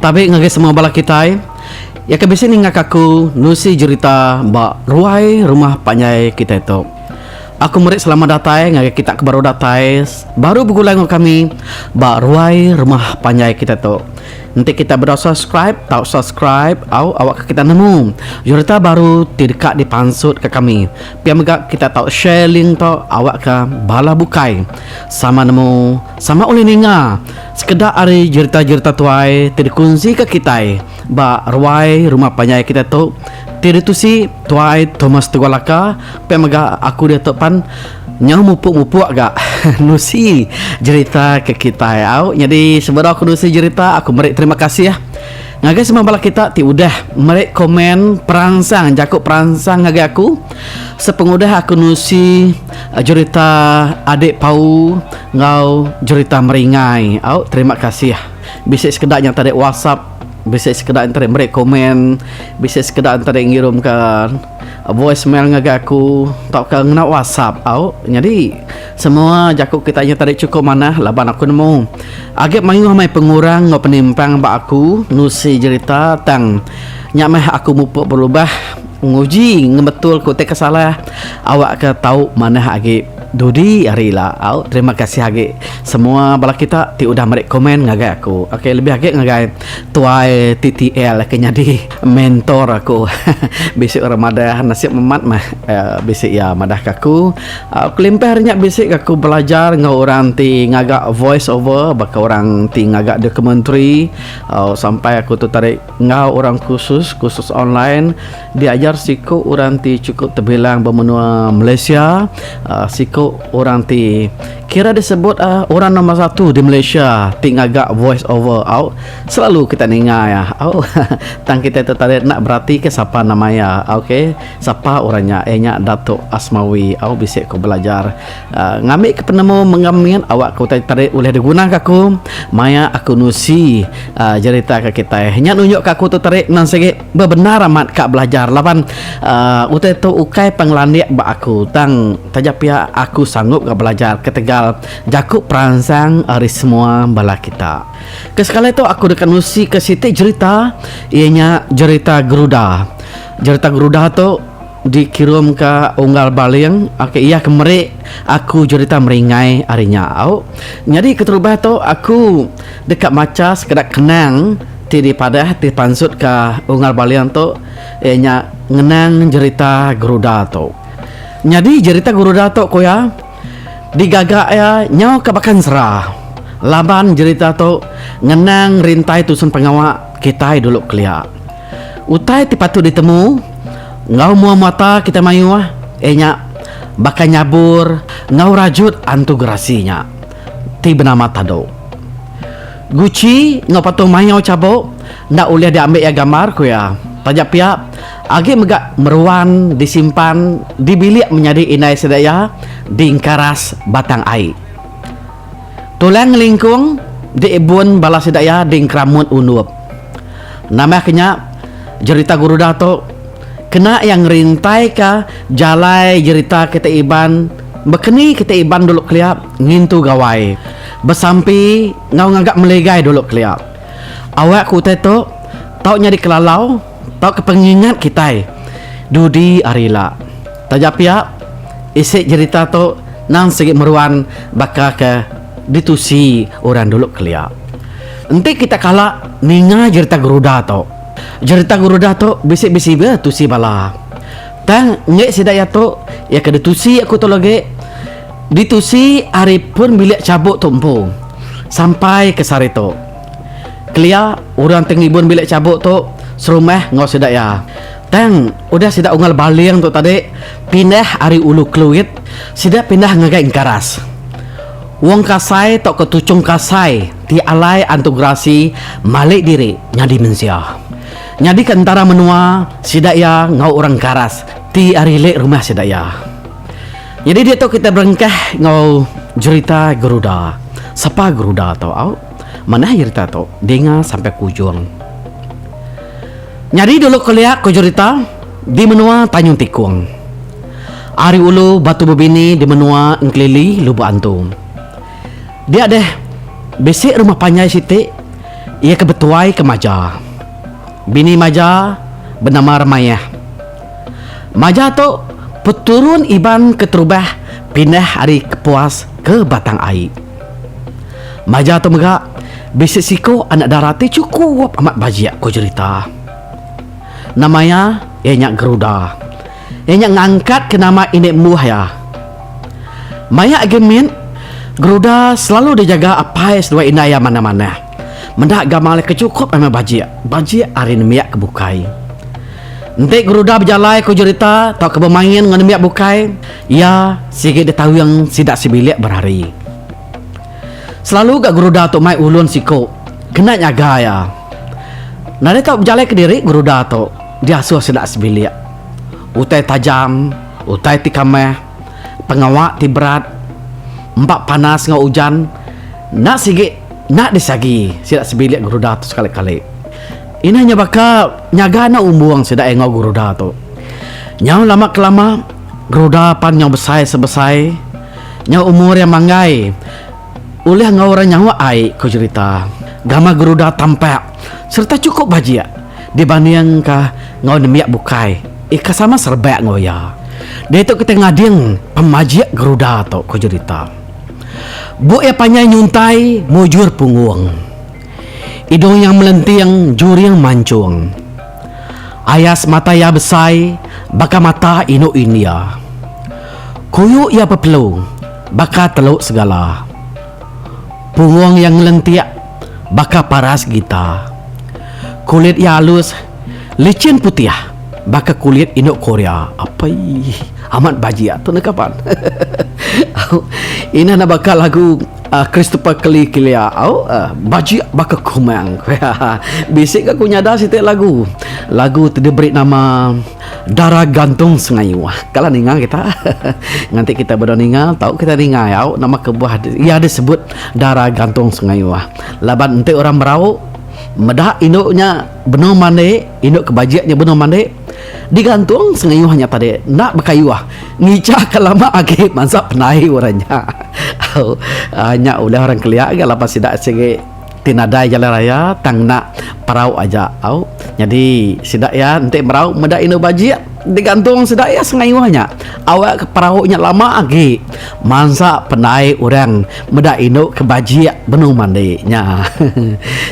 Tabi ngagai semua bala kitai, iya ke bisi ninga ka aku nusi jerita ba ruai rumah panjai kitai tu. Aku meri selamat datai ngagai kita ke baru datai baru begulai enggau kami ba ruai rumah panjai kitai tu. Enti kitai bedau subscribe tau subscribe au awakka kita nemu jerita baru ti deka dipansut ka kami. Pia mega kita tau share link tu awakka bala bukai sama nemu sama ulih ninga sekeda ari jerita-jerita tuai ti dikunsika kitai ba ruai rumah panjai kita tu ti ditusi Tuai Thomas Tugolaka pia mega aku diatu pan nyau mupuk-mupuk ga nusi jerita ke kitai au nyadi sebedau aku nusi jerita aku meri terima kasih. Ngagai semua bala kita ti udah meri komen peransang jaku peransang ngagai aku sepengudah aku nusi jurita Adik Pau enggau jurita Meringai. Au terima kasih. Bisi sekeda nyata dek whatsapp, bisi sekeda nyata dek meri komen, bisi sekeda nyata dek ngirumka Voice mail ngagai aku tauka ngena WhatsApp au. Nyadi semua jaku kitai nya tadi chukup manah laban aku nemu agi mayuh meh pengurang enggau penimpang ba aku nusi jerita tang nya meh aku mupuk berubah nguji ngebetul ku utai ke salah awak ke tau manah agi dudi hari ila au. Terima kasih agi semua bala kita ti udah meri komen ngagai aku. Ok lebih agi ngagai tuai TTL ke nyadi. Mentor aku bisi orang madah nasib amat meh bisi iya madah ke aku kelimpah ari nya bisi ke aku belajar enggau orang ti ngaga voice over baka orang ti ngaga documentary sampai aku tu tadi enggau orang kursus kursus online diajar siku orang ti chukup tebilang ba menua Malaysia siku orang ti kira disebut orang nombor satu di Malaysia ti ngaga voice over au. Selalu kita ninga iya. Au. Tang kitai tertarik enda beratika sapa nama iya. Au ke. Sapa orang nya. Iya nya Datuk Asmawi. Au bisi ku belajar. Aaa ngambi ke penemu mengam nyin awak ke utai tertarik ulih diguna ke aku. Maya aku nusi aaa jerita ke kitai. Nya nunjuk ke aku tertarik endang sigi bebendar amat ka belajar laban aaa utai tu ukai pan ngelandik ba aku tang taja pia aku sanggup ga belajar ketegal jaku peransang ari semua bala kita. Ke sekali tu aku deka nusika siti jerita iya nya jerita Geruda. Jerita Geruda tu dikirumka Unggal Baling. Ok iya ke meri aku jerita meringai ari nya. Au nyadi keterubah tu aku deka macha sekeda kenang ti dipadah ti dipansutka Unggal Baling tu iya nya ngenang jerita Geruda tu. Nyadi jerita Geruda tu ku iya. Digaga iya nyau ka Bakang Sera. Laban jerita tu ngenang rintai tusun pengawa kitai dulu kelia. Utai ti patut ditemu enggau mua muata kitai mayuh iya nya baka nyabur enggau rajut antu gerasi nya ti benama Tado. Guci enggau patung mayau chabuk enda ulih diambi iya gambar ku iya. Taja pia Agi mega meruan disimpan di bilik menyadi indai sida iya di engkaras batang ai. Tulang ngelingkung diibun bala sida iya di engkeramut undup. Nambahka nya, jerita Gurudah tu kena iya ngerintaika jalai jerita kitai Iban bekeni kitai Iban dulu kelia ngintu Gawai besampi enggau ngaga meligai dulu kelia. Awak ke utai tu tau nyadi kelalau. Tauka pengingat kitai dudi hari ila. Taja pia, isi jerita tu endang sigi meruan baka ke ditusi orang dulu kelia. Enti kita kala ninga jerita Garuda tu, jerita Garuda tu bisi bisi be tusi bala. Tang enggai sida iya tu, iya ke ditusi aku tu lagi ditusi ari pun bilik chabuk tu empu sampai ke sehari tu. Kelia orang ti ngibun bilik chabuk tu serumah enggau sida iya. Tang, udah sida ungal baling tu tadi pindah ari Ulu Keluit, sida pindah ngagai Engkaras. Wong Kasai tauka Tuchong Kasai ti alai Antu Gerasi malik diri nyadi mensia. Nyadika entara menua sida iya enggau orang Engkaras ti ari lek rumah sida iya. Nyadi ditu kita berengkah enggau jerita Geruda. Sapa Geruda tu au? Manah jerita tu dinga sampai ke ujung. Nyadi dulu kelia ko jerita di menua Tanyung Tikung. Ari ulu batu bebini di menua Engkelili Lubok Antu. Dia deh bisi rumah panjai siti iya ke betuai ke Maja. Bini Maja benama Remayah. Maja tu peturun Iban keterubah pindah ari Kepuas ke Batang Ai. Maja tu mega, bisi siku anak dara ti chukup amat bajik, ku cherita. Nama iya? Iya nya Geruda. Iya nya ngangkatka nama indi embuh iya. Maya agi mit, Geruda selalu dijaga apai seduai indai iya manah-manah. Meda gamal iya ke chukup amat bajik, bajik ari nembiak ke bukai. Enti Geruda bejalai, ku cherita, tauka bemain enggau nembiak bukai, Iya sigi ditawing sida sebilik berari. Selalu ga Guruda tu mai ulun siku kena nyaga iya. Nadai tau bejalai kediri Guruda tu diasuh sida sebilik. Utai tajam, utai ti kamah, pengawa ti berat, empa panas enggau ujan enda sigi enda disagi sida sebilik Guruda tu sekali-kali. Inah nya baka nyaga anak umbung sida enggau Guruda tu. Nyau lama ke lama. Geruda pan nyau besai sebesai nyau umur iya manggai ulih enggau orang nyawa ai ku jerita. Gamal geruda tampak sereta chukup bajik dibandingka enggau nembiak bukai ika sama serebak enggau iya. Diatu kitai ngading pemajik geruda tu ku jerita. Buk iya panjai nyuntai mujur punggung. Idung iya melenting juring manchung. Ayas mata iya besai baka mata indu India. Kuyu iya pepelu baka telu segala. Punggung iya ngelentik baka paras gita. Kulit iya alus, licin putih baka kulit indu Korea. Apai, amat bajik tu neh kaban. Inah nebaka lagu. Christopher Keli Kilia au bajik baka kumang. Bisi ga ku nyada siti lagu. Lagu ti diberi nama Darah Gantung Sengayuh. Kala ninga kita. Nganti kita bedau ninga tau kita ninga au nama kebuah iya disebut Darah Gantung Sengayuh. Laban enti orang merau meda indu nya benung mandik, indu ke bajik nya benung mandik. Digantung sengayuh nya tadi enda bekayuh ngija ke lama agi mansa penai orang nya. Au nya ulih orang kelia ga laban sida sigi ti nadai jalan raya tang enda perau aja au nyadi sida iya enti merau meda inu bajik digantung sida iya sengayuh nya awak ke perau nya lama agi mansa penai orang meda inu ke bajik benung mandi nya.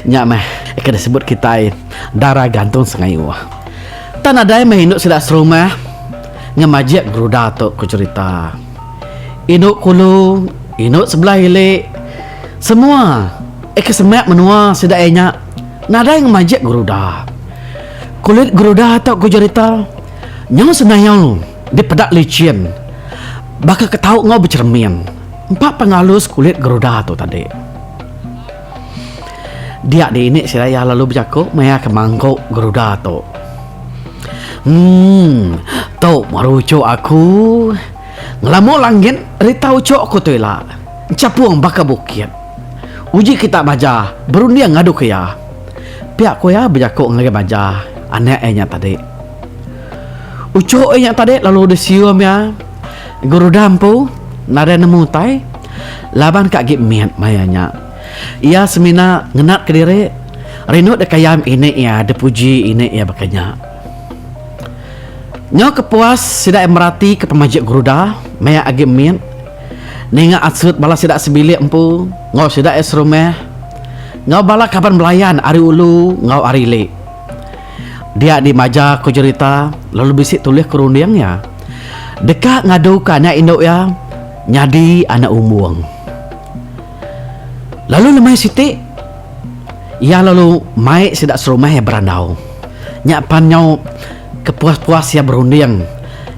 Nya meh ke disebut kitai dara gantung sengayuh. Tang nadai meh indu sida serumah ngemajik beruda tu, ku cherita. Indu kulu, indu sebelah ili, semua aka semak menua sida iya nya nadai ngemajik geruda. Kulit geruda tu, ku cherita, nyau senayau dipeda lichin baka ke tau enggau becheremin. Empa penghalus kulit geruda tu tadi. Dia di ini sila iya lalu bejaku maya ke mangku geruda tu. Emm tu baru uchu aku. Ngelamu langit rita uchu aku tu ila enchapung baka bukit. Uji kita baja berunding ngadu ke iya. Pia ku iya bejaku ngagai baja anak iya nya tadi. Uchu ai nya tadi lalu disium iya geruda empu nadai nemu utai laban ka agi mit maya nya. Iya semina ngenatka diri rindu deka yam ini iya dipuji ini iya baka nya. Nyau ke puas sida meratika pemajik geruda maya agi mit ninga asut bala sida sebilik empu enggau sida iya serumah enggau bala kaban belayan ari ulu enggau ari ili. Dia di maja ko jerita lalu bisi tulis ko runding iya. Deka ngadu ka anak indu iya nyadi anak umung. Lalu lemai siti iya lalu mai sida serumah iya berandau. Nya pan nyau ke puas puas iya berunding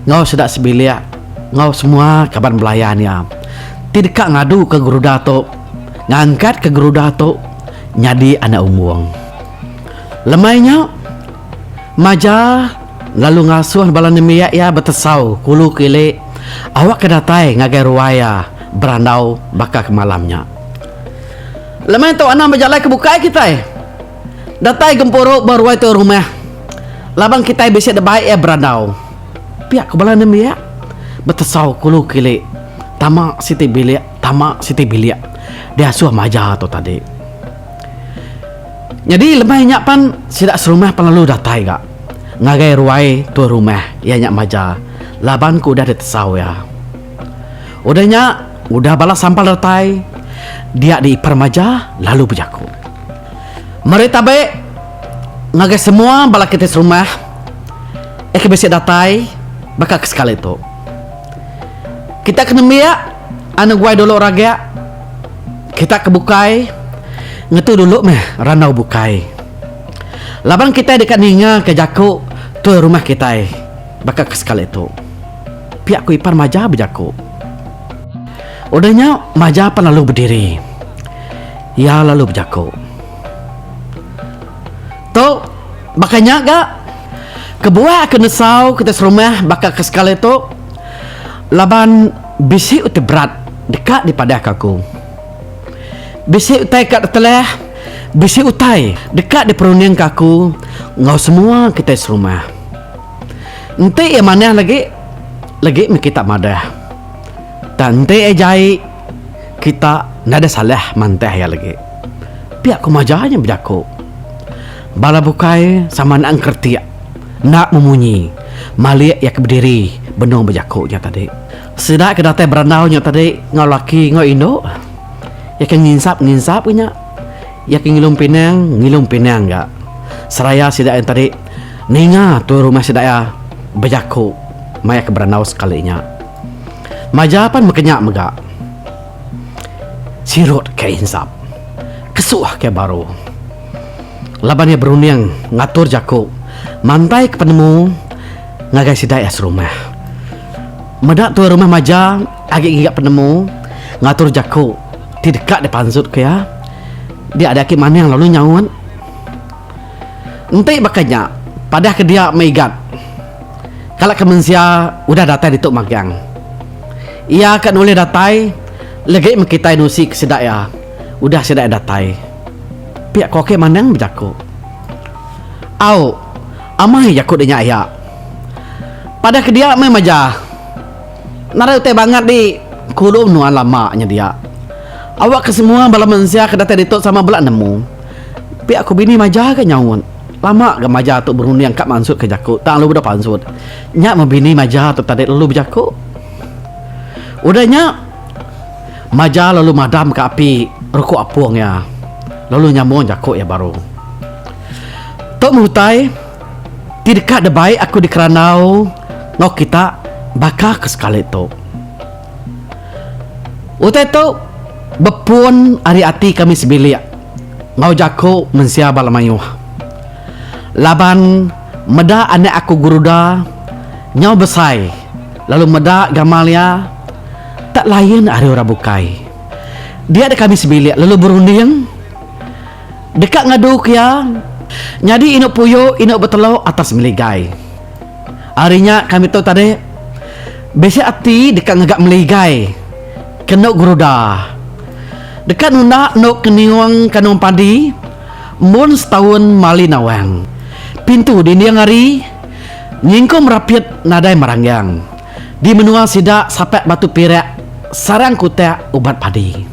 enggau sida sebilik enggau semua kaban belayan iya ti deka ngadu ka geruda tu ngangkat ka geruda tu nyadi anak umung. Lemai nya, Maja lalu ngasuh bala nembiak iya betesau ke ulu ke ili awakka datai ngagai ruai iya berandau baka ke malam nya. Lemai tu anang bejalai ke bukai kitai datai gempuru ba ruai tuai rumah laban kitai bisi nebai iya berandau, pia ku bala nembiak betesau ke ulu ke ili tama siti bilik tama siti bilik diasuh Maja tu tadi. Nyadi lebuh nya pan sida serumah pan lalu datai ga ngagai ruai tuan rumah iya nya maja laban ku udah ditesau iya. Udah nya udah bala sampal datai dia di ipar maja lalu bejaku. Meri tabe ngagai semua bala kitai serumah iya ke bisi datai baka ke sekali tu. Kita ke nembiak anu guai dulu raga. Kita ke bukai ngetu dulu meh randau bukai. Laban kitai deka ninga ke jaku tuai rumah kitai baka ke sekali tu. Pia ku Ipan Maja bejaku. Udah nya Maja pan lalu bediri. Iya lalu bejaku. Tu baka nya ga kebuah ke nesau kitai serumah baka ke sekali tu laban Bisi utai berat deka dipadahka aku. Bisi utai ka tetelah, bisi utai deka diperundingka aku enggau semua kitai serumah. Enti iya manah lagi, lagi mih kita madah. Tang enti iya jai, kita enda ada salah mantah iya lagi. Pia ku maja nya bejaku. Bala bukai sama enda engkeretik. Enda memunyi, malik iya ke bediri benung bejaku nya tadi. Sida ke datai berandau nya tadi enggau laki enggau indu. Iya ke nginsap-nginsap ke nya. Iya ke ngilum pinang, ngilum pinang ga. Seraya sida nya tadi ninga tuai rumah sida iya bejaku maya ke berandau sekali nya. Maja pan mega nya mega. Sirut ke insap. Kesuh ke baru. laban iya berunding ngatur jaku mantaika penemu ngagai sida iya serumah. Meda tuai rumah maja agi ngiga penemu ngatur jaku ti deka dipansutka iya, dia ada agi maning lalu nyaut. Enti baka nya, padah ke dia meigat kala ke mensia udah datai ditu magang. Iya ka nulih datai legi mekitai nusi ke sida iya. Udah sida datai, pia ko ke Manang bejaku. Au, amai jaku de nya iya. Padah ke dia meh maja. Nadai utai bangat di Kulu Nuan lama nya dia. Awak ke semua bala mensia ke datai ditu sama bela nemu. Pia ko bini maja ga nyaut. Lama ga maja tu berunding ka mansut ke jaku tang lalu deh pansut. Nya meh bini maja tu tadi lalu bejaku. Udah nya. Maja lalu madam ka api ruku apung iya lalu nyamung jaku iya baru. Tok meh utai ti deka debai aku dikerandau enggau kita baka ke sekali tu. Utai tu bepun ari ati kami sebilik enggau jaku mensia bala mayuh. Laban meda anak aku Guruda nyau besai lalu meda gamal iya, Tak layan ari orang bukai. Dia deka ami sebilik lalu berunding deka ngadu ke iya nyadi indu puyu indu betelu atas meligai. Ari nya kami tu tadi bisi ati deka ngaga meligai ke endu geruda deka nunda endu ke niung kanung padi mun setaun mali nawang pintu dinding ari nyingkung merapit nadai meranggang. Di menua sida sapak batu pirak sarang kutak ubat padi.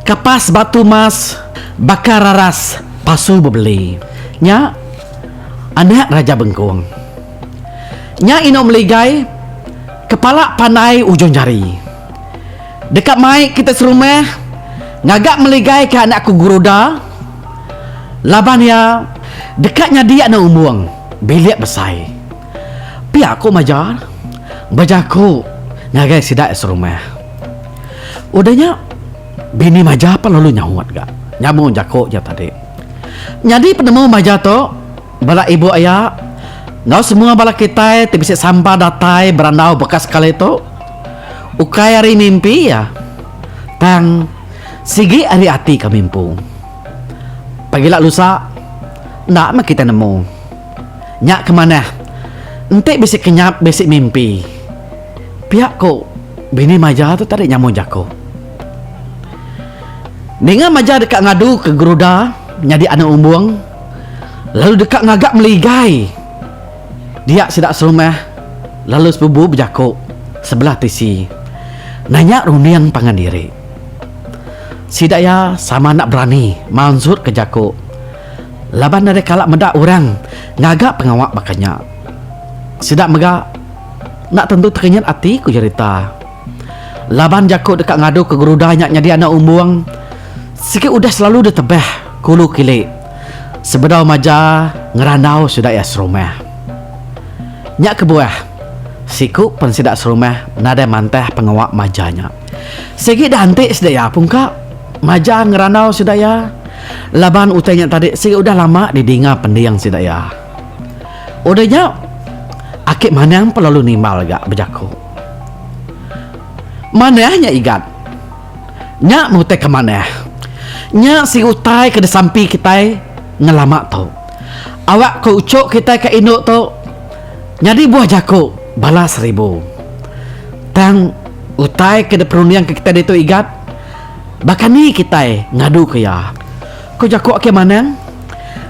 Kapas batu mas baka raras pasu bebeli. Nya anak Raja Bengkong. Nya inu Meligai kepala pandai ujung jari. Deka mai kita serumah ngaga Meligai ke anak ku Guruda laban iya deka nyadi anak umbung bilik besai. Pia ku Majar bejaku ngagai sida iya serumah. Udah nya, bini Majar pan lalu nyaut ga nyambung jaku iya tadi. Nyadi penemu Majar tu bala ibu iya enggau semua bala kitai ti bisi samba datai berandau baka sekali tu ukai ari mimpi iya tang sigi ari ati kami empu. Pagila lusa enda meh kitai nemu. Nya ke manah, enti bisi kenyap bisi mimpi. Pia ku bini Maja tu tadi nyambung jaku. Ninga Maja deka ngadu ke Geruda nyadi anak umbung lalu deka ngaga meligai dia sida serumah lalu sebubu bejaku sebelah tisi nanya runding pangan diri. Sida iya sama enda berani mansutka jaku. laban deka kala meda orang ngaga pengawa baka nya. Sida mega enda tentu tekenyit ati, ku Jerita. Laban jaku deka ngadu ke gerudai nya nyadi anak umbung sigi udah selalu ditebah kulu kili sebedau maja ngerandau sida iya serumah. Nya kebuah, siku pen sida serumah nadai mantah pengawa maja nya. Sigi da enti sedaya pungka majang ngerandau sida iya laban utai nya tadi sigi udah lama didinga pending sida iya. Udah nya Aki Manang pun lalu nimbal ga bejaku. Manah nya Igat. Nya meh utai ke manah. Nya sigi utai ke disampi kitai ngelama tu. Awak ko uchu kitai ka indu tu nyadi buah jaku bala seribu. Tang Utai ke diperundingka kitai ditu Igat, baka ni kitai ngaduka iya? Ku jaku Akei Manang.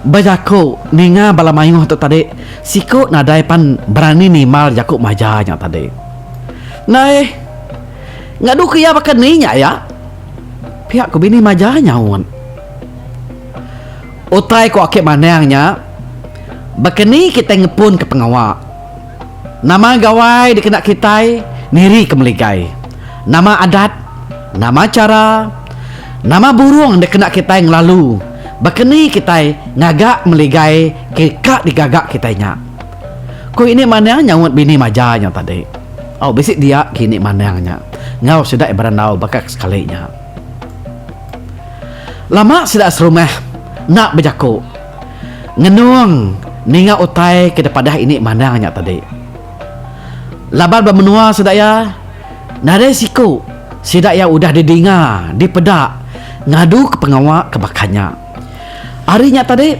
Ba jaku ninga bala mayuh tu tadi, siku nadai pan berani nimbal jaku maja nya tadi. Nai, ngaduka iya baka ni nya iya? Pia ku bini maja nyaut. Utai ku Akei Manang nya, baka ni kitai ngepunka pengawa? Nama gawai dikena kitai niri ke meligai? Nama adat? Nama chara? Nama burung dikena kitai ngelalu? Baka ni kitai ngaga meligai ke ka digaga kitai nya? Ku ini manang nyaut bini maja nya tadi. Au bisi dia ke ini manang nya enggau sida iya berandau baka ke sekali nya. Lama sida serumah enda bejaku. Ngenung ninga utai ke dipadah ini mandang nya tadi. Laban ba menua sida iya, nadai siku sida iya udah didinga, dipeda ngaduka pengawa ke baka nya. Ari nya tadi,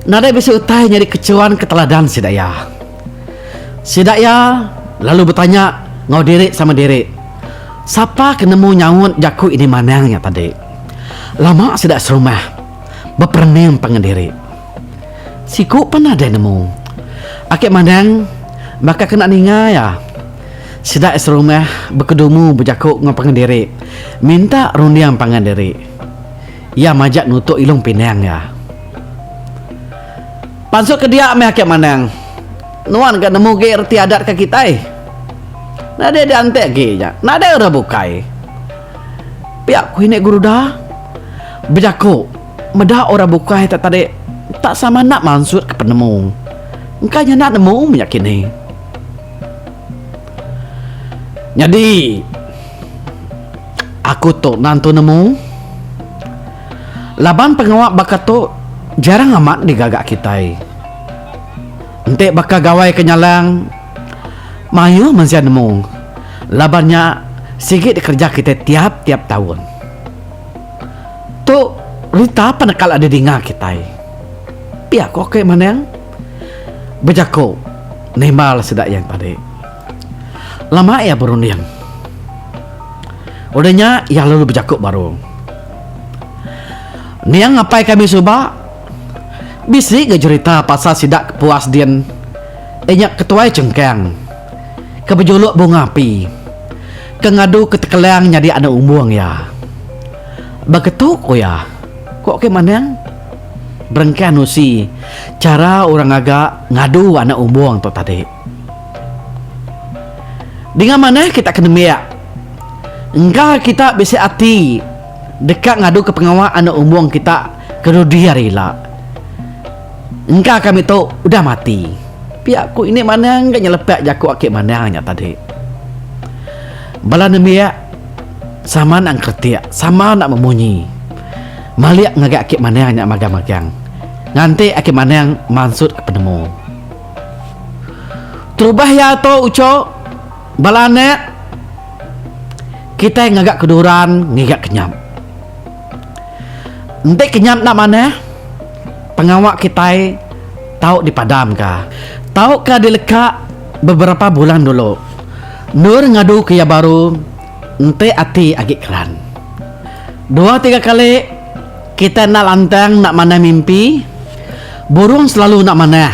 nadai bisi utai nyadi kechuan ke teladan sida iya. Sida iya lalu betanya enggau diri sama diri, Sapa ke nemu nyaut jaku ini mandang nya tadi? Lama sida serumah. beperening pangan diri. Siku pan nadai nemu. Ake mandang baka kena ninga iya. Sida iya serumah bekedumu bejaku enggau pangan diri minta runding pangan diri. Iya majak nutuk ilung pinang iya. Pansut ke dia meh ake mandang nuan ga nemu agi reti adat ke kitai. Nadai diantik agi nya. Nadai orang bukai. Pia ku ini guru da bejaku meda orang bukai tak tadi tak sama enda mansut ke penemu. Engka nya enda nemu menya kini. Nyadi aku tu nantu nemu laban pengawa baka tu jarang amat digaga kitai. Enti baka gawai ke nyalang Mayuh mensia nemu laban nya sigi dikereja kitai tiap-tiap taun. Tu rita pan nekal adi dinga kitai. Pia ko ke Manang bejako nimbal sida yang tadi. Lama iya berunding. Udah nya iya lalu bejako baru. Niang ngapai kami suba bisi ga jerita pasal sida ke puas din. Inya ke tuai chengkang, ke bejuluk bunga api, ke ngadu ke tekelang nyadi anak umbung iya. Baka tu ku iya, ku Okey Manang, berengkah nusi chara orang ngaga ngadu anak umbung tu tadi. Dinga manah kita ke nembiak, engka kita bisi ati deka ngaduka pengawa anak umbung kita ke dudi hari ila. Engka kami tu udah mati. Pia ku indi Manang ke nyelepek jaku aki Manang nya tadi. Bala nembiak sama nak engkeretik, sama nak memunyi. Malik ngagai aki Manang nya magang-magang. Nganti aki Manang mansut ke penemu. Terubah iya tu uchok, bala anak kitai ngaga ke duran ngiga kenyap. Enti ke nya enda manah, pengawa kitai tau dipadamka. Tauka dileka beberapa bulan dulu, endur ngadu ke iya baru enti ati agi keran. Dua tiga kali kitai enda lantang enda manah mimpi, burung selalu enda manah.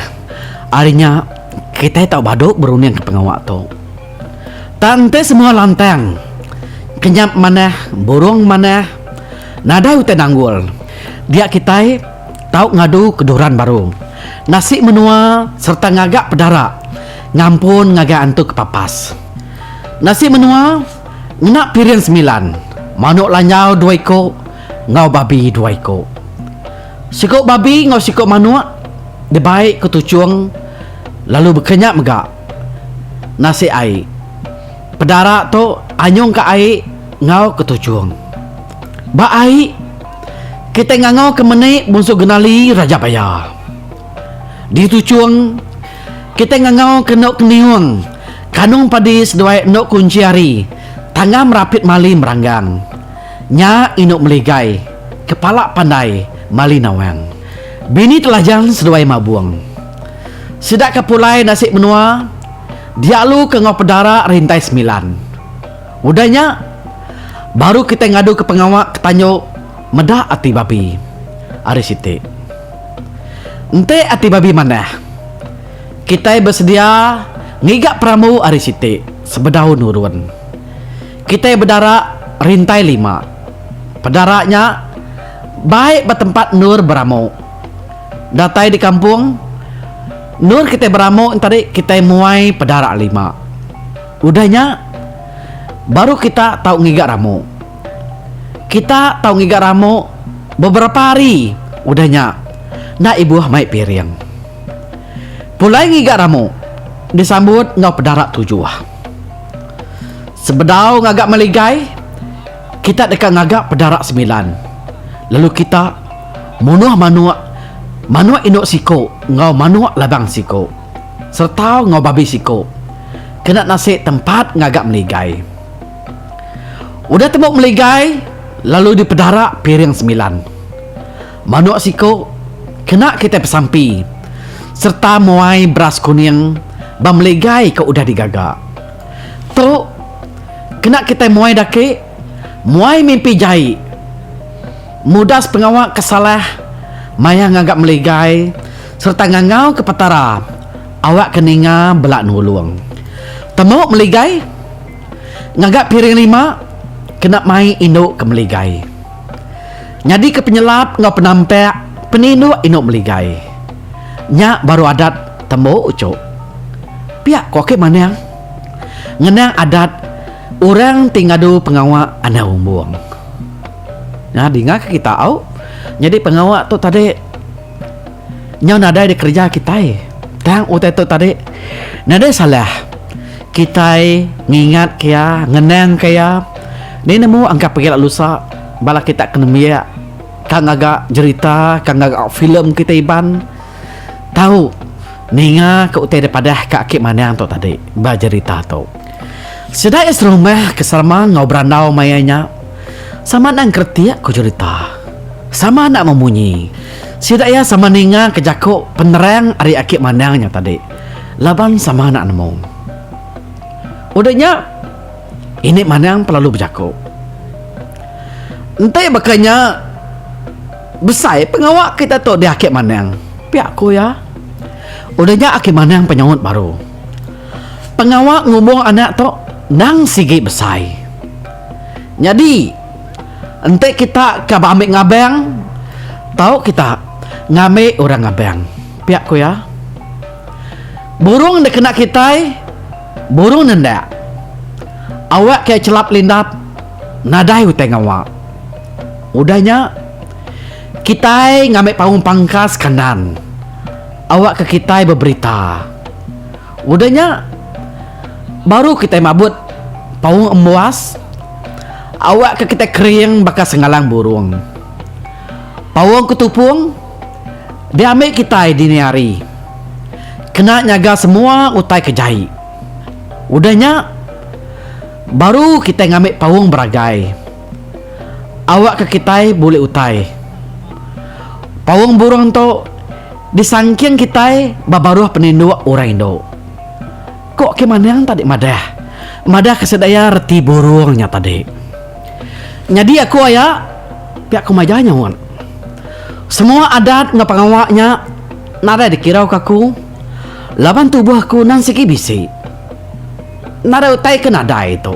Ari nya kitai tau badu berundingka pengawa tu. Tang ti semua lantang. Kenyap manah, burung manah. Nadai utai nanggul. Dia kitai tau ngadu ke duran baru. Nasi menua sereta ngaga pedara ngampun ngagai antu ke papas. Nasi menua ngena piring semilan, manuk lanjau dua iku enggau babi dua iku. Siku babi enggau siku manuk dibai ke tuchung lalu bekenyap mega. nasik ai. Pedara tu anyung ka ai enggau ke tuchung. Ba ai, kitai ngangau ke meni Bunsu Genali Raja Paya. Di tuchung, kitai ngangau ke enu Keniung, Kanung Padi seduai enu Kunchi Ari, Tanggam Rapit Mali Meranggang. Nya enu Meligai, Kepala Pandai Mali Nawang, Bini Telajan seduai Mabung. Sida ke pulai nasi menua dialu ke enggau pedara rintai semilan. Udah nya, baru kitai ngadu ke pengawa ke tanju meda ati babi. Ari siti. Enti ati babi manah, kitai besedia ngiga perambu ari siti sebedau nurun. Kitai bedara rintai lima. Pedara nya baik ba tempat endur beramu. Datai di kampung, endor kitai beramuk tadi kitai muai pedarak lima. Udah nya, baru kita tau ngiga ramuk. Kita tau ngiga ramuk beberapa hari udah nya enda ibuh mai piring. Pulai ngiga ramuk disambut enggau pedarak tujuh. Sebedau ngaga meligai. Kita deka ngaga pedara semilan, lalu kita munuh manuk, manuk indu siku enggau manuk labang siku, sereta enggau babi siku, kena nasi tempat ngaga meligai. Udah tembu meligai, lalu dipedara piring semilan. Manuk siku kena kitai pesampi sereta muai beras kuning ba meligai ke udah digaga. Tu kena kitai muai daki, muai mimpi jai. Mudas pengawa ke salah maya ngaga meligai sereta ngangauka Petara awakka ninga bela nulung. Temu meligai ngaga piring lima kena mai indu ke meligai. Nyadika penyelap enggau penampak peninduk indu meligai. Nya baru adat tembu uchu. Pia ko ake manang. Ngenang adat orang ti ngadu pengawa anang umbung. Nah dinga ke kita au nyadi pengawa tu tadi. Nyau nadai dikereja kitai tang utai tu tadi. Nadai salah kitai ngingatka iya, ngenangka iya. Ni nemu engka pagi lalu usa bala kita ke nembiak ka ngaga jerita, ka ngaga filem kita Iban tau ninga ka utai da padah ka aki manang tu tadi ba jerita tu. Sida iya serumah ke sama enggau berandau maya nya sama nang keretik ku jerita. Sama enda memunyi. Sida iya sama ninga ke jaku penerang ari aki mandang nya tadi laban sama enda nemu. Udah nya, ini mandang pelalu bejaku. Enti baka nya, besai pengawa kita tu di aki mandang, pia ku iya. Udah nya aki mandang penyaut baru, Pengawa ngubung anak tu endang sigi besai. Nyadi, Enti kita ka ba ambi ngabang, tau kita ngambi orang ngabang, pia ku iya. Burung dikena kitai, burung nendak. Awak ke chelap lindap nadai utai ngawa. Udah nya, kitai ngambi paung pangkas kandan awakka kitai beberita. Udah nya, baru kitai mabut paung embuas awakka kitai kering baka sengalang burung. Paung ketupung diambi kitai dini hari kena nyaga semua utai ke jai. Udah nya, baru kitai ngambi paung beragai awakka kitai bulih utai. Paung burung tu. Disangking kitai ba baruh peninduk orang indu. Ko Kim Anang tadi madah, madah ke sedaya reti burung nya tadi. Nyadi aku aya, pia ku maja nyaut. Semua adat enggau pengawa nya nadai dikirau ke aku laban tubuh aku nan sigi bisi. Nadai utai ke nadai tu.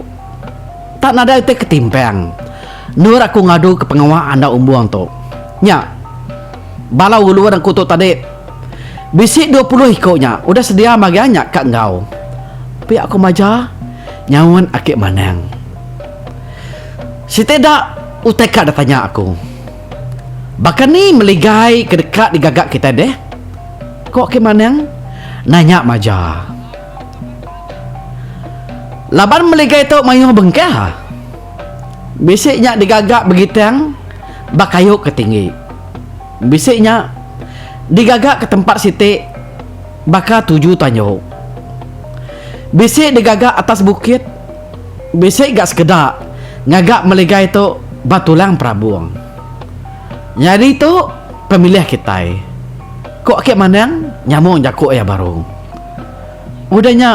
Tak nadai utai ke timpang endur aku ngadu ke pengawa andau umbung tu. Nya. Bala ulun aku tu tadi bisi dua puluh iku nya udah sedia magang nya ka enggau pia aku maja nyaut aki manang. Siti da utai ka da tanya aku. Baka ni meligai ke deka digaga kitai deh? Ko aki manang nanya maja. Laban meligai tu mayuh bengkah. Bisi nya digaga begitang ba kayu ke tinggi. Bisi nya digaga ke tempat siti baka tuju tanyu. Bisi digaga atas bukit, bisi ga sekeda ngaga meligai tu ba tulang perabung. Nyadi tu pemilih kitai, ku Aki Manang nyambung jaku iya baru. Udah nya.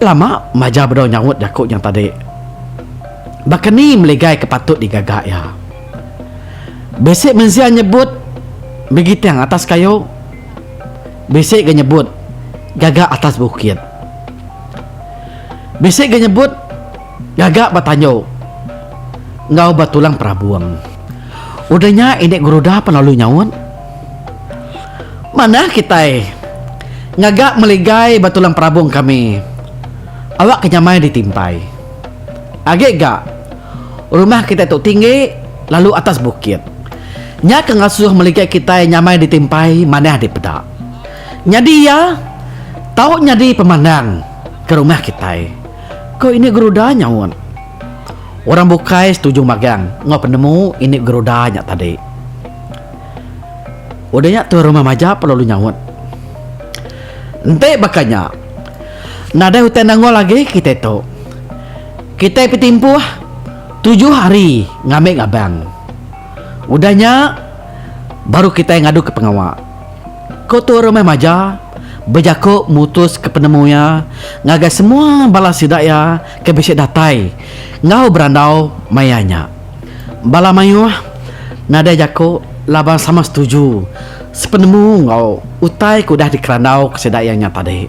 Lama Majau bedau nyaut jaku nya tadi. Baka ni meligai ke patut digaga iya? Bisi mensia nyebut begiting atas kayu, bisi ga nyebut gaga atas bukit. Bisi ga nyebut gaga ba tandu enggau ba tulang perabung. Udah nya ini geruda pan lalu nyaut. Manah kitai ngaga meligai ba tulang perabung kami awak ke nyamai ditimpai. Agi ga, rumah kitai tu tinggi lalu atas bukit. Nya ke ngasuh meligai kitai nyamai ditimpai manah dipeda. Nyadi iya tau nyadi pemandang ke rumah kitai, ko Ini Geruda nyaut. Orang bukai setuju magang enggau penemu Ini Geruda nya tadi. Udah nya tuan rumah Majap lalu nyaut, Enti baka nya, nadai utai nongol agi kitai tu. Kitai betimpuh tujuh hari ngambi ngabang. Udah nya, baru kitai ngaduka pengawa, ku tuan rumah Majap bejaku mutuska penemu iya ngagai semua bala sida iya ke bisi datai enggau berandau maya nya. Bala mayuh nadai jaku laban sama setuju sepenemu enggau utai ke udah dikerandauka sida iya nya tadi.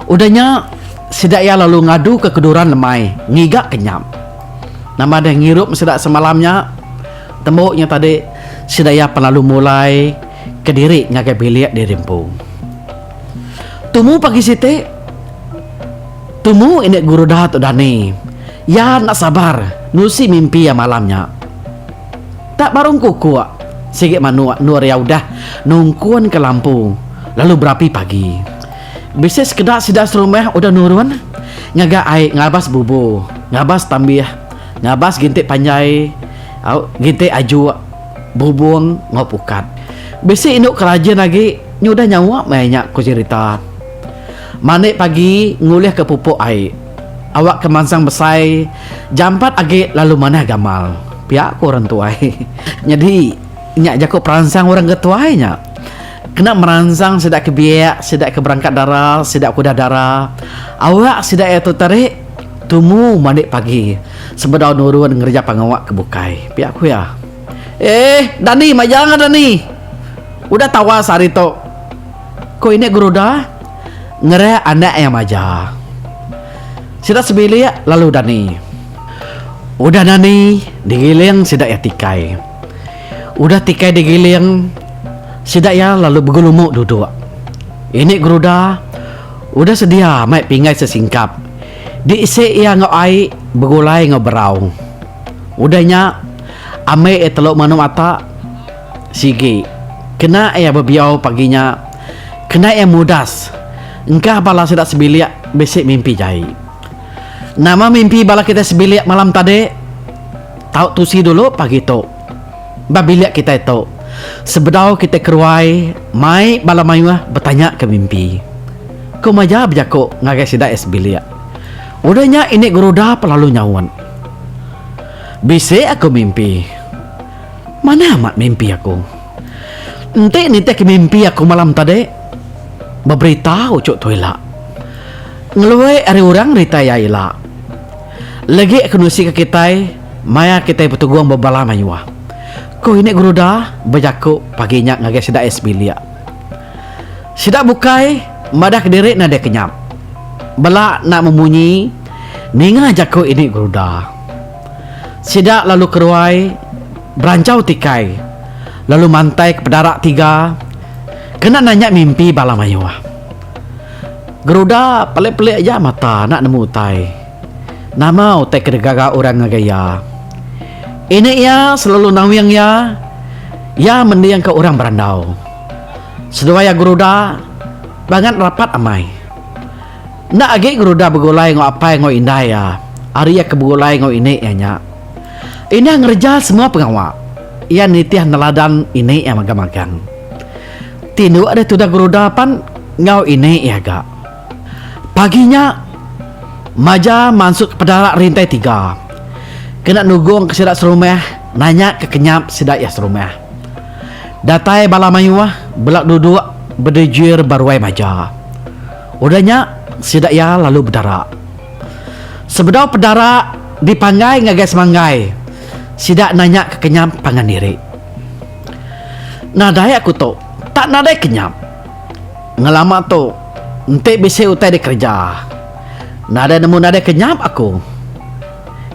Udah nya, sida iya lalu ngaduka keduran lemai ngiga ke nyam. Nama deh ngirup sida semalam nya? Tembu nya tadi, sida iya pan lalu mulai kediri ngagai bilik diri empu. Tumu pagi siti. Tumu indik guru da tu dani. Iya enda sabar nusi mimpi iya malam nya. Tak barung kukuk, sigi manuk endur iya udah nungkunka lampu lalu berapi pagi. Bisi sekeda sida serumah udah nurun ngaga ai ngabas bubu, ngabas tambih, ngabas gintik panjai, gintik ajuk, bubung enggau pukat. Bisi indu ke rajin agi nyudah nyaup maya nya, ku Jerita. Mandi pagi ngulihka pupuk ai. Awakka mansang besai jampat agi lalu manah gamal, pia ku orang tuai. Nyadi nya jaku peransang orang ke tuai nya. Kena meransang sida ke biak, sida ke berangkat dara, sida ke udah dara. Awak sida iya tu terik tumu mandi pagi sebedau nurun ngereja pengawa ke bukai, pia ku iya. Eh, Dani maja ga Dani. Udah tawas ari tu. Ku ini guru da ngereh anak iya maja. Sida sebilik lalu dani. Udah dani digiling sida iya tikai. Udah tikai digiling sida iya lalu begelumu duduk. Ini guru da udah sedia mai pinggai sesingkap diisi iya enggau ai begulai enggau berau. Udah nya ambi iya telu manu mata. Sigi, kena iya bebiau pagi nya, kena iya mudas engkah bala sida sebilik bisi mimpi jai. Nama mimpi bala kitai sebilik malam tadi? Tau tusi dulu pagi tu. Ba bilik kitai tu, sebedau kitai keruai mai bala mayuh betanyaka mimpi. Ku Maja bejaku ngagai sida iya sebilik, Udah nya ini Geruda pelalu nyaut. Bisi aku mimpi. Manah amat mimpi aku. Enti nitihka mimpi aku malam tadi, beberita uchu tu ila. Ngelui ari orang rita iya ila. Legi aku nusika kitai maya kitai betugung bebala mayuh, ku ini guru Da bejaku pagi nya ngagai sida iya sebilik. Sida bukai madahka diri nadai kenyap. Bela enda memunyi ninga jaku ini guru Da. Sida lalu keruai beranchau tikai lalu mantai ke pedara tiga kena nanya mimpi bala mayuh. Geruda pelik-pelik aja mata enda nemu utai. Nama utai ke digaga orang ngagai iya? Ini iya selalu nawing iya, iya mendingka orang berandau. Seduai iya Geruda bangat rapat amai. Enda agi ngerudah begulai enggau apai enggau indai iya ari iya ke begulai enggau ini iya nya. Indah ngereja semua pengawa. Iya nitih neladan ini iya mega magang. Ti indu deh tudah gerudah pan enggau ini iya ga. Pagi nya, Maja mansukka pedarak rintai tiga kena nugungka sida serumah nanyaka kenyap sida iya serumah. Datai bala mayuh bela duduk bedejir ba ruai Maja. Udah nya, sida iya lalu bedara. Sebedau pedara dipanggai ngagai semanggai, sida nanya ke kenyam pangan diri. Nadai aku tu, tak nadai kenyam. Ngelama tu, enti bisi utai dikereja, nadai nemu nadai kenyam aku.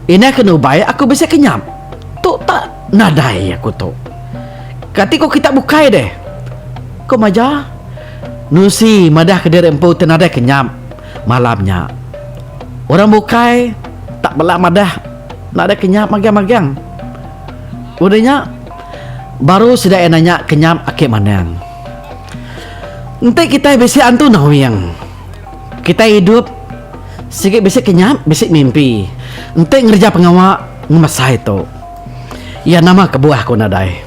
Indai ke nubai aku bisi kenyam, tu tak nadai aku tu. Kati ku kitak bukai deh? Ku Maja. Nusi madahka diri empu ti nadai kenyap malam nya. Orang bukai tak bela madah nadai kenyap magang-magang. Udah nya, baru sida iya nanya kenyap ake manang. Enti kitai bisi antu nawing, kitai idup sigi bisi kenyap, bisi mimpi enti ngereja pengawa ngemesai tu. Iya nama kebuah ku nadai.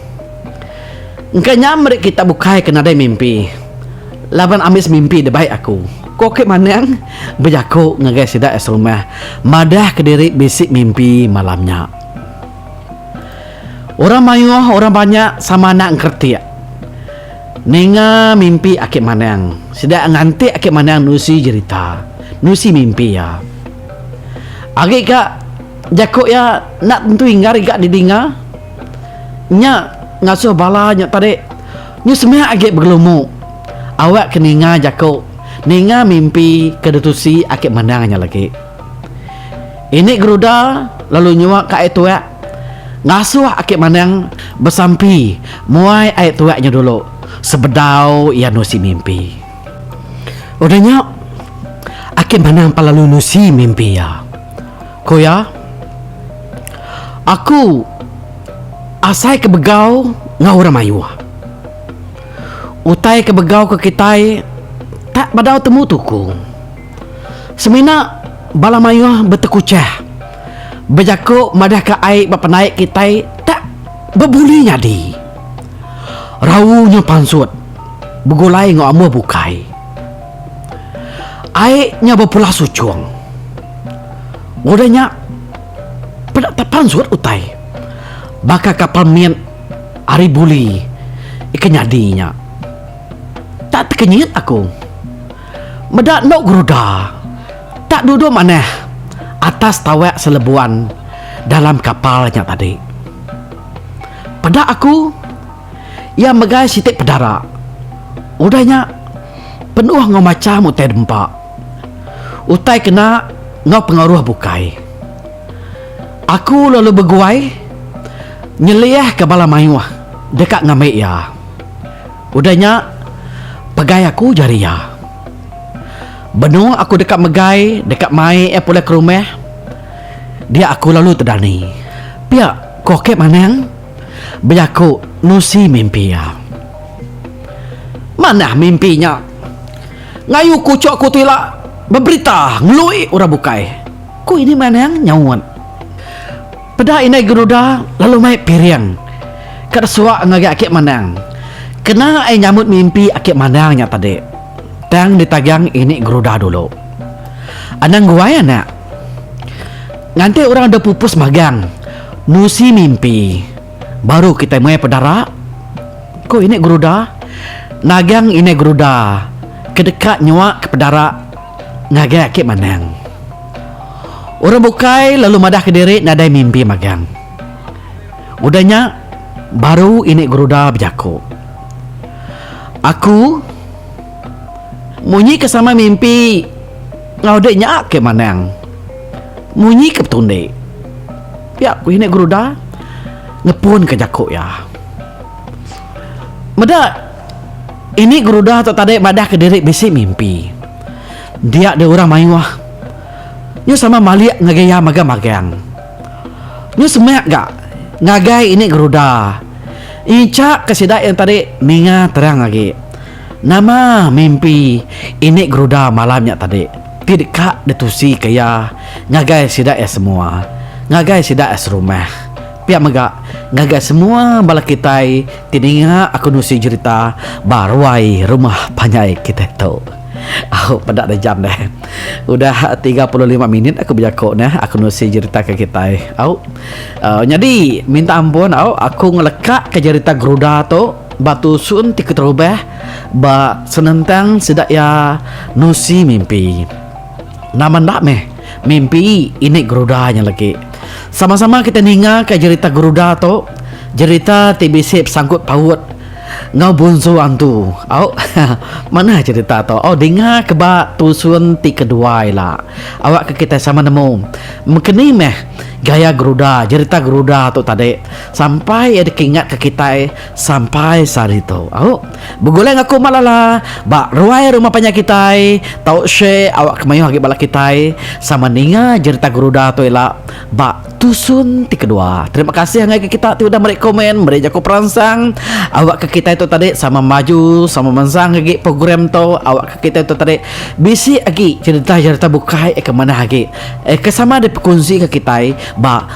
Engka nya meri kita bukai ke nadai mimpi laban ambis mimpi da bai aku, ko Okey Maneng bejaku ngagai sida iya serumah madah ke diri bisi mimpi malam nya. Orang mayuh orang banyak sama anak engkeretik ninga mimpi Aki Maneng. Sida nganti Aki Maneng nusi jerita, nusi mimpi iya. Agi ka jaku iya enda tentu inggar iga didinga. Nya ngasuh bala nya tadi nyu semak agi begelumu. Awak ke ninga jaku, ninga mimpi ke ditusi aki mandang nya lagi. Ini Geruda lalu nyuak ka ai tuak ngasuh aki mandang besampi muai ai tuak nya dulu sebedau iya nusi mimpi. Udah nya, aki mandang pan lalu nusi mimpi iya. Ku iya, Aku asai ke begau enggau orang mayuh. Utai ke begau ke kitai tak bedau temu tuku. Semina bala mayuh betekuchah bejaku madahka ai ba pendaik kitai tak bebuli nyadi. Rau nya pansut begulai enggau amuh bukai. Ai nya bepula suchong. Udah nya, peda tak pansut utai. Baka kapal mit ari buli ika nyadi nya. Tak tekenyit aku. Meda endo geruda tak duduk manah atas tawak selebuan dalam kapal nya tadi. Peda aku. Iya megai siti pedara. Udah nya, penuh enggau macham utai dempa. Utai kena enggau pengaruh bukai. Aku lalu beguai nyeliahka bala mayuh deka ngambi iya. Udah nya, pegai aku jari iya. Benung aku deka megai deka mai iya pulai ke rumah, dia aku lalu tedani. Pia, ku Okip Manang. bejaku nusi mimpi iya. Manah mimpi nya ngayu kuchuk ku tu ila beberita ngelui orang bukai. Ku Indai Manang nyaut. Peda Indai Geruda lalu mai piring ka desua ngagai Aki Manang. Kena ai nyambut mimpi Aki Manang nya tadi. Tang ditagang Indai Geruda dulu. Anang guai anak. Nganti orang depupus magang. Nusi mimpi, baru kitai meh pedara, ku Inik Geruda. Nagang Inik Geruda ke deka nyuaka pedara ngagai Aki Manang. Orang bukai lalu madahka diri nadai mimpi magang. Udah nya, baru Inik Geruda bejaku, Aku. Munyi ke sama mimpi enggau dek nya ke manang. Munyi ke betundi. Pia ku ini Guruda ngepun ke jaku iya. Meda ini Guruda tu tadi madah ke diri bisi mimpi. Dia deh orang mayuh nyu sama malik ngagai iya magang magang. Nyu semak ga ngagai ini Guruda incha ke sida yang tadi ninga terang agi. Nama mimpi ini geruda malam nya tadi ti deka ditusika iya ngagai sida iya semua, ngagai sida iya serumah. Pia mega ngagai semua bala kitai ti ninga aku nusi jerita ba ruai rumah panjai kitai tu. Au peda deh jam deh. Udah tiga puluh lima minit aku bejaku neh aku nusi jerita ke kitai. Au. Nyadi minta ampun au aku ngeleka ke jerita geruda tu. Batu sun ti keterubah ba senentang sida iya nusi mimpi. Nama enda meh mimpi ini geruda nya legi. Sama-sama kita ningaka jerita geruda tu, jerita ti bisi besangkut paut enggau bunsu antu. Au manah jerita tu. Au dinga ke ba tusun ti kedua ila. Awakka kita sama nemu mengkeni meh gaya geruda, jerita geruda tu tadi. Sampai iya dikingatka kitai sampai sehari tu. Au. Begulai enggau aku umak lala ba ruai rumah panjai kitai tau share awakka mayuh agi bala kitai sama ninga jerita Geruda tu ila ba tusun ti kedua. Terima kasih angai ke kita ti udah meri komen meri jaku peransang awakka kitai tu tadi sama maju sama mensang agi program tu awakka kitai tu tadi bisi agi jerita-jerita bukai ke manah agi ke sama dipekunsi enggau kitai ba